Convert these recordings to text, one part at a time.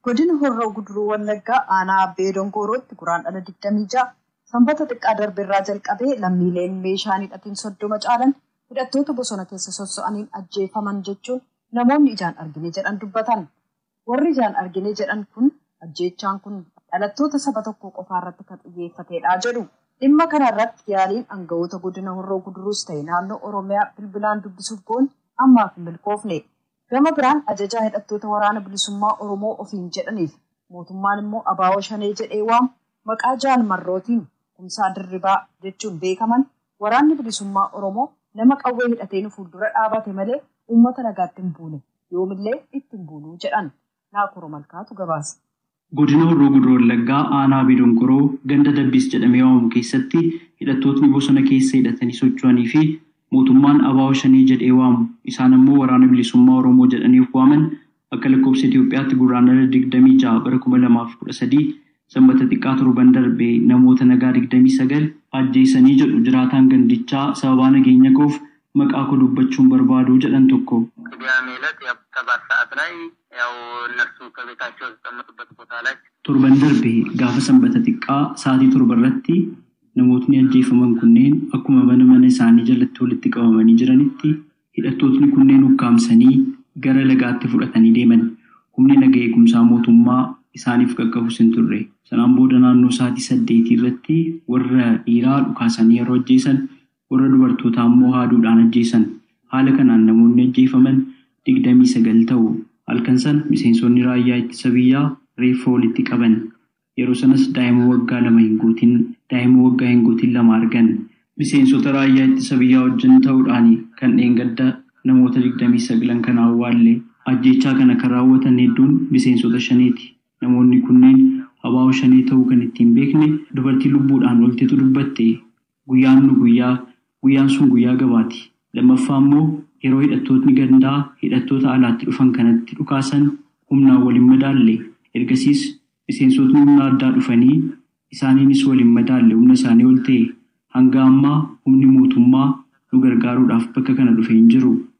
Godina Horroo Guduruu Wallaggaa aanaa Abbee Dongoorootti Guraandhala 26 sanbata xiqqaa darberraa jalqabee lammiileen meeshaa hin hidhatin soddoma caalan hidhattoota bosona keessa sosso'aniin ajjeefaman jechuun namoonni ijaan argine jedhan dubbatan. Warri ijaan argine jedhan kun ajjeechaan kun dhalattoota saba tokkoo qofaa irratti kan xiyyeeffateedha jedhu. Dhimma kana irratti yaaliin angawoota godina Horroo Guduruus ta'e naannoo Oromiyaa bilbilaan dubbisuuf goone ammaaf hin milkoofne. Gama biraan ajajaa hidhattoota Waraana Bilisummaa Oromoo ofiin jedhaniif mootummaan immoo abo Shanee jedhee waamu maqaa Jaal Marrootiin, Kumsaa Dirribaa, jechuun beekaman Waraanni Bilisummaa Oromoo nama qawwee hidhatee nu fuuldura dhaabate malee uummata nagaatti hin buune, yoomillee itti hin buunu jedhan. Naakoor Malkaatu gabaase. Godina Horroo Guduruu Wallaggaa aanaa Abee Donkoroo ganda Dabbiis jedhamee waamamu keessatti hidhattootni bosona keessa hidhatanii socho'anii fi mootummaan abo Shanee jedhee waamu isaan ammoo Waraana Bilisummaa Oromoo jedhanii of waaman Akka lakkoofsa Itoophiyaatti Gurraandhala 26 bara 2013 Sanbata xiqqaa torban darbe namoota nagaa 29 ajjeesanii jedhu jiraataan gandichaa sababaa nageenya koof maqaa koo dubbachuu hin barbaadu jedhan tokko. Qidaamee elet yaw sabaat sa'at lay yaw nafsu kabetaachoo yataqamatubat botaa lay. Torban darbe gaafa Sanbata xiqqaa sa'aatii torba irratti namootni ajjeefaman kunneen akkuma mana mana isaanii jalatti walitti qabamanii jiranitti hidhattootni kunneen ukkaamsanii gara lagaatti fudhatanii deeman. Humni naga eegumsaa mootummaa isaaniif qaqqabus hin turre. Sanaan booda naannoo sa'aatii saddeetii irratti warra dhiiraa dhukaasanii yeroo ajjeesan, warra dubartootaa immoo haaduudhaan ajjeesan. Haala kanaan namoonni ajjeefaman digdamii sagal ta'u. Halkan sana miseensonni raayyaa ittisa biyyaa reeffa walitti qaban. Yeroo sanas daa'ima waggaa lama hin guutin, daa'ima waggaa hin guutin lama argan. Miseensota raayyaa ittisa biyyaa wajjin ta'uudhaani kan dheengadda namoota digdamii saglan kana awwaalle. Ajjeechaa kana kan raawwatan hedduun miseensota Shaneeti. Namoonni kunneen abo Shanee ta'uu kan ittiin beekne dubartii lubbuudhaan oltetu dubbatte. Guyyaan nu guyyaa, guyyaan sun guyyaa gabaati. Lammaffaa immoo yeroo hidhattootni gandaa hidhattoota alaatti dhufan kanatti dhukaasan humnaan wal hin madaalle. Ergasiis miseensotni humna addaa dhufanii isaaniinis wal hin madaalle humna isaanii ol ta'e. Hanga ammaa humni mootummaa nu gargaaruudhaaf bakka kana dhufe hin jiru.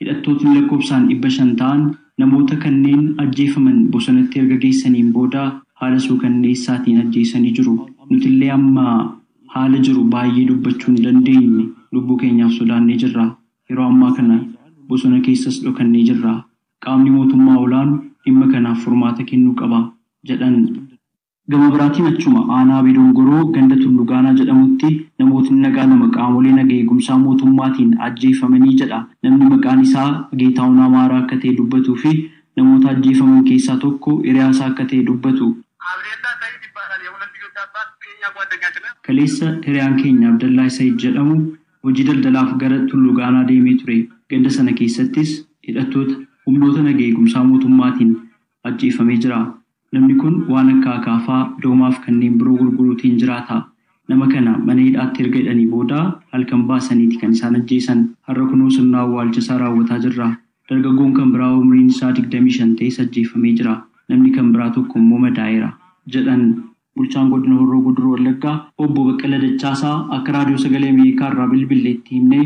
Hidhattootni lakkoofsaan dhibba shan ta'an namoota kanneen ajjeefaman bosonatti erga geessaniin booda haala suukanneessaatiin ajjeesanii jiru. Nutillee amma haala jiru baayyee dubbachuu hin dandeenye, lubbuu keenyaaf sodaannee jirra. Yeroo ammaa kana bosona keessas dhokannee jirra. Qaamni mootummaa olaanu dhimma kanaaf furmaata kennuu qaba, jedhan. Gama biraatiin achuma aanaa Abee Dongoroo ganda Tullu Gaanaa jedhamutti namootni nagaa lama qaamolee naga eegumsaa mootummaatiin ajjeefamanii jedha namni maqaan isaa Geetaahun Amaaraa akka ta'e dubbatuu fi namoota ajjeefaman keessaa tokko hiriyaa isaa akka ta'e dubbatu. Abdeellaa Sayid Ibaalaal Yehulan Lijoch Abbaas Keenyaa Guwaaddanyaachin Naan. Kaleessa hiriyaan keenya Abdallaah Sayid jedhamu hojii daldalaaf gara Tullu Gaanaa deemee ture. Ganda sana keessattis hidhattoota humnoota naga eegumsaa mootummaatiin ajjeefamee jira. Namni kun waan akka akaafaa, doomaafi kanneen biroo gurguruutiin jiraata. Nama kana mana hidhaatti erga hidhanii booda halkan baasaniiti kan isaan ajjeesan. Har'a kunoo sirna awwaalchasaa raawwataa jirra. Dargaggoon kan biraa umriin isaa digdamii shan ta'es ajjeefamee jira. Namni kan biraa tokkommoo madaa'eera, jedhan. Bulchaan Godina Horroo Guduruu Wallaggaa Obbo Baqqala Dachaasaa akka Raadiyoo Sagalee Ameerikaa irraa bilbille itti himnee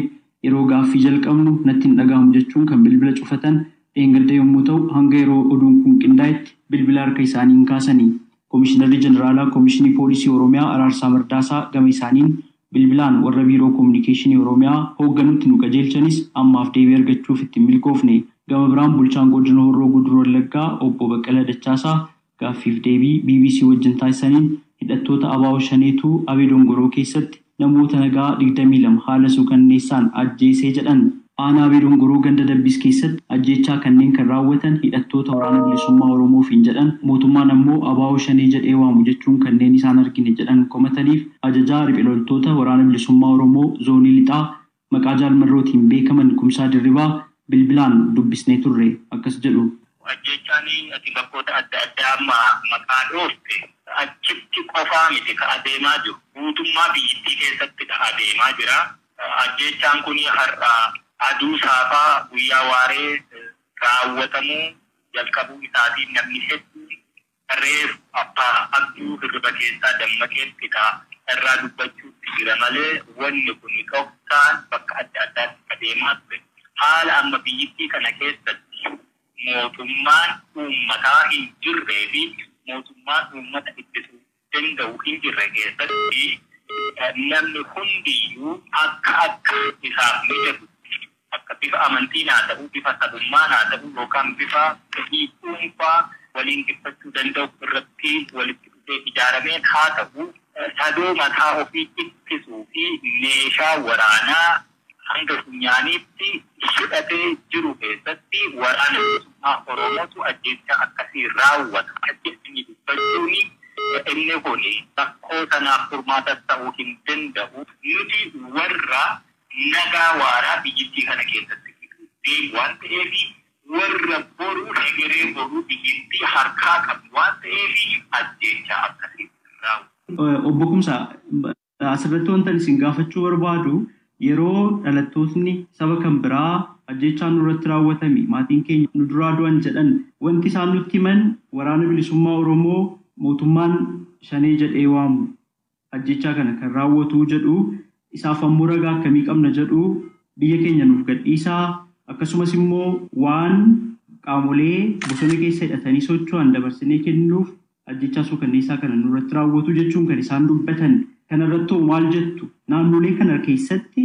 yeroo gaaffii jalqabnu natti hin dhaga'amu jechuun kan bilbila cufatan dheengadda yommuu ta'u hanga yeroo oduun kun qindaa'etti bilbila harka isaanii hin kaasani. Komishinarri Jeneraalaa Komishinii Poolisii Oromiyaa Araarsaa Mardaasaa gama isaaniin bilbilaan warra Biiroo Kominikeeshinii Oromiyaa hoogganutti nu qajeelchanis ammaaf deebii argachuuf itti hin milkoofne. Gama biraan Bulchaan Godina Horroo Guduruu Wallaggaa Obbo Baqqala Dachaasaa Gaaffiif deebii bbc wajjin taasisaniin hidhattoota abo Shaneetu Abee Dongoroo keessatti namoota nagaa 22 haala suukanneessaan ajjeese jedhan. Aanaa Abee Dongoroo ganda Dabbiis keessatti ajjeechaa kanneen kan raawwatan hidhattoota Waraana Bilisummaa Oromoo ofiin jedhan, mootummaan ammoo abo Shanee jedhee waamu jechuun kanneen isaan argine jedhan komataniif ajajaa riphe loltoota Waraana Bilisummaa Oromoo Zoonii Lixaa Maqaa Jaal Marrootiin beekaman Kumsaa Dirribaa bilbilaan dubbisnee turre. Akkas jedhu. Ajjeechaan ati bakkoota adda addaa amma maqaa dhoofte achitti qofaa miti ka adeemaa jiru. Guutummaa biyyittii keessattidha adeemaa jira. Ajjeechaan kun har'a aduu saafaa guyyaa waaree raawwatamuu jalqabuu isaatiin namni hedduun Reefu Abbaa Abduu hirriba keessaa dammaqeettidha irraa dubbachuutti jira malee wanni kuni dhoksaan bakka adda addaatti itti adeemaa ture. Haala amma biyyittii kana keessatti mootummaan uummataa hin jirree fi mootummaan uummata ittisu danda'u hin jirre keessatti namni hundiyyuu akka akka isaaf mijatutti akka bifa amantiin haa ta'uu, bifa sabummaan haa ta'uu yookaan bifa fedhii dhuunfaa waliin ibsachuu danda'u irratti walitti dhufee ijaarameen haa ta'uu, sadoo mataa ofii ittisuu fi meeshaa waraanaa hanga funyaaniitti hidhatee jiru keessatti Waraana Bilisummaa Oromootu ajjeechaa akkasii raawwata jedhanii dubbachuun inni kun rakkoo sanaaf furmaatas ta'uu hin danda'u. Nuti warra nagaa waaraa biyyittii kana keessatti fiduu deemu waan ta'eefi warra boruu hegeree boruu biyyittii harkaa qabdu waan ta'eefi ajjeechaa akkasii raawwatu. Obbo Kumsaa, asirratti wantan isin gaafachuu barbaadu yeroo dhalattootni saba kan biraa ajjeechaan nurratti raawwatame maatiin keenya nu duraa du'an jedhan wanti isaan nutti himan waraana bilisummaa Oromoo mootummaan shanee jedhee waamu ajjeechaa kana kan raawwatu jedhu isaaf ammoo ragaa akkamii qabna jedhu biyya keenya nuuf gadhiisaa akkasumas immoo waan qaamolee bosona keessa hidhatanii socho'an dabarsinee kennuuf ajjechaa suukanneessaa kana nurratti raawwatu jechuun kan isaan dubbatan kanarrattoo maal jettu naannolee kana keessatti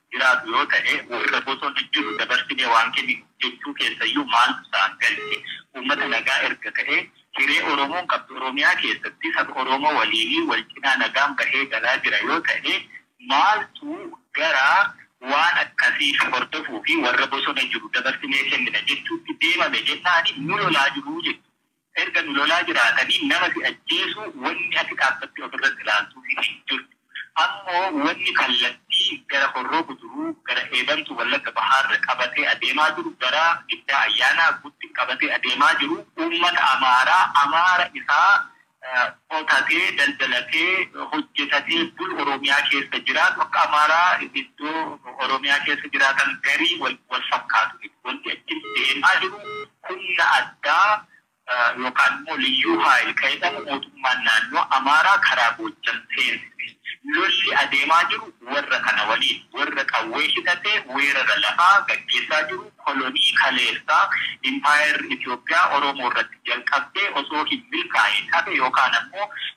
jiraatu yoo ta'e, warra bosona jiru dabarsinee waan kenninuuf jechuu keessayyuu maaltu isaan galche? Uummata nagaa erga ta'ee, hiree Oromoon qabdu Oromiyaa keessatti saba Oromoo waliinii wal cinaa nagaan bahee galaa jira yoo ta'e, maaltu gara waan akkasii hordofuufi warra bosona jiru dabarsinee kennina jechuutti deemame jennaani nu lolaa jiru jechuudha. Erga nu lolaa jiraatanii nama si ajjeesu wanni ati dhaabbattee ofirratti ilaaltuufi hin jirtu. Ammoo wanni kallattii gara Horroo Guduruu, gara Eedamtuu Wallagga Bahaarra qabatee adeemaa jiru, gara Giddaa Ayyaanaa Guttin qabatee adeemaa jiru uummata Amaaraa, Amaara isaa qotatee, daldalatee, hojjetatee bulu Oromiyaa keessa jiraatu akka Amaaraa iddoo Oromiyaa keessa jiraatan garii wal fakkaatu miti. Wanti achi deemaa jiru Humna addaa yookaan immoo Liyyuu Haayil kan jedhamu mootummaan naannoo Amaaraa karaa Goojjam seensise. Lolli adeemaa jiru warra kana waliin. Warra qawwee hidhatee weerara lafaa gaggeessaa jiru kolonii kaleessaa Impaayerri Itoophiyaa Oromoo irratti jalqabdee osoo hin milkaa'iin hafe yookaan ammoo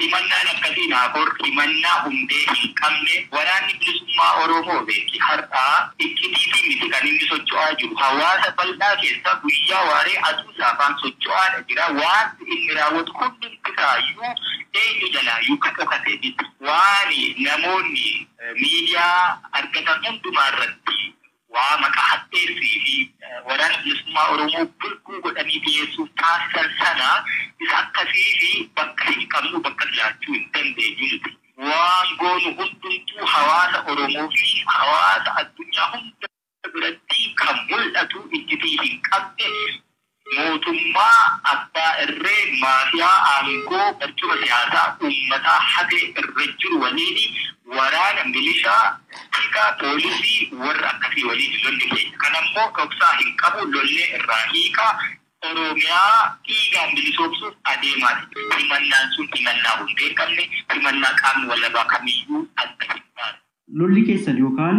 Himannaan akkasii Naakoor himannaa hundee hin qabne, Waraanni Bilisummaa Oromoo beeki har'aa iccitiitiin miti kan inni socho'aa jiru, hawaasa bal'aa keessa guyyaa waaree aduu saafaan socho'aadha jira, waanti inni raawwatu hundumtisaayyuu eenyu jalaayyuu ka dhokate miti, waan namoonni miidiyaa argatan hundumaarratti waa maqaa hadheessii fi Waraana Bilisummaa Oromoo bulguu godhanii dhiyeessuuf taasisan sana isa akkasii fi bakka hin qabnu bakkas laachuu hin dandeenyu nuti. Waan goonu hundumtuu hawaasa Oromoo fi hawaasa addunyaa hunda biratti kan mul'atu, iccitii hin qabne, Mootummaa abbaa irree maafiyaa aangoo barcuma siyaasaa uummataa hate irra jiru waliin waraana, milishaa, tika, poolisii, warra akkasii waliin lolli keenya. Kan ammoo dhoksaa hin qabu lollee irraa hiikaa, Oromiyaa dhiigaan bilisoomsuuf adeemaa jirra. Himannaan sun himannaa hundee hin qabne, himannaa qaamni walabaa kamiyyuu adda hin baasne. Lolli keessan yookaan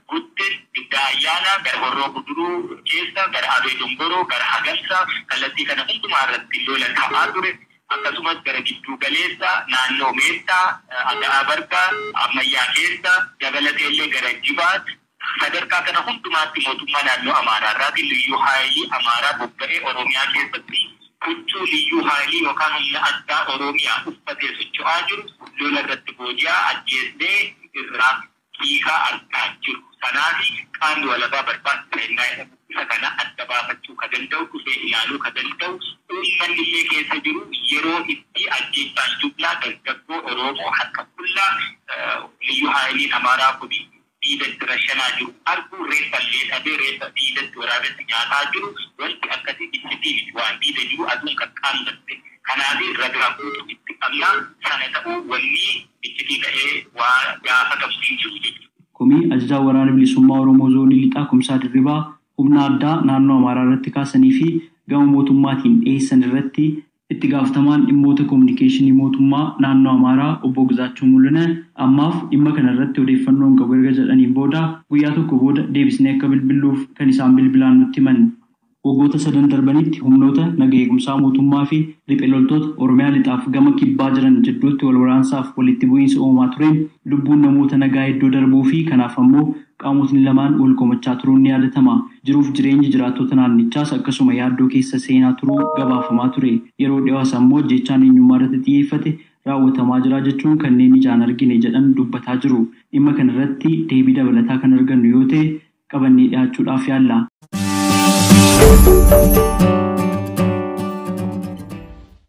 Gutte, Giddaa Ayyaanaa, gara Horroo Guduruu keessa, gara Abee Dongoroo, gara Hagarsaa, kallattii kana hundumaa irratti lola ka'aa ture. Akkasumas gara Gidduu Galeessa, naannoo Meettaa, Aga'aa Bargaa, Ammayyaa keessa, dabalatee illee gara Jibaat, sadarkaa kana hundumaatti mootummaa naannoo Amaaraa irraatii Liyyuu Haayilii Amaaraa bobba'ee Oromiyaa keessatti huccuu Liyyuu Haayilii yookaan Humna Addaa Oroomiyaa uffatee socho'aa jiru lola irratti booji'aa, ajjeessee irraa dhiigaa argaa jiru sanaafi qaamni walabaa barbaachisa hennaa jedhamu isa kana adda baafachuu ka danda'u, dhufee ilaaluu ka danda'u, uummannillee keessa jiru yeroo itti ajjeechaan jublaa dargaggoo Oroomoo harka qullaa Liyyuu Haayiliin Amaaraa kun diidatti rashanaa jiru arguu reeffallee dhabee reeffa diidatti waraabessi nyaataa jiru wanti akkasii iccitii miti waan diida jiru aduun qaqqaammatte kanaafi ragaa guutuu itti qabna sana ta'uu wannii iccitii ta'ee waa gaafatamu hin jiru jechuudha. Komii Ajajaan Waraana Bilisummaa Oromoo Zoonii Lixaa Kumsaa Dirribaa humna addaa naannoo Amaaraa irratti kaasanii fi gama mootummaatiin dhiheessan irratti, Itti Gaafatamaan Dhimmoota Kominikeeshinii Mootummaa Naannoo Amaaraa Obbo Gizaachoo Muluneh ammaaf dhimma kana irratti odeeffannoo hin qabu erga jedhaniin booda, guyyaa tokko booda deebisnee akka bilbilluuf kan isaan bilbilaan nutti himan. Waggoota sadan darbanitti humnoota naga eegumsaa mootummaa fi riphe loltoota Oromiyaa Lixaaf gama Kibbaa jiran jidduutti wal waraansaaf walitti bu'iinsa uumamaa tureen lubbuun namoota nagaa hedduu darbuu fi kanaaf ammoo qaamotni lamaan wal komachaa turuun ni yaadatama. Jiruuf jireenyi jiraattota naannichaas akkasuma yaaddoo keessa seenaa turuu gabaafamaa ture. Yeroo dhiyoo as ammoo ajjeechaan eenyummaa irratti xiyyeeffate raawwatamaa jira jechuun kanneen ijaan argine jedhan dubbataa jiru. Dhimma kana irratti deebii dabalataa kan argannu yoo ta'e qabannee dhihaachuudhaaf yaalla.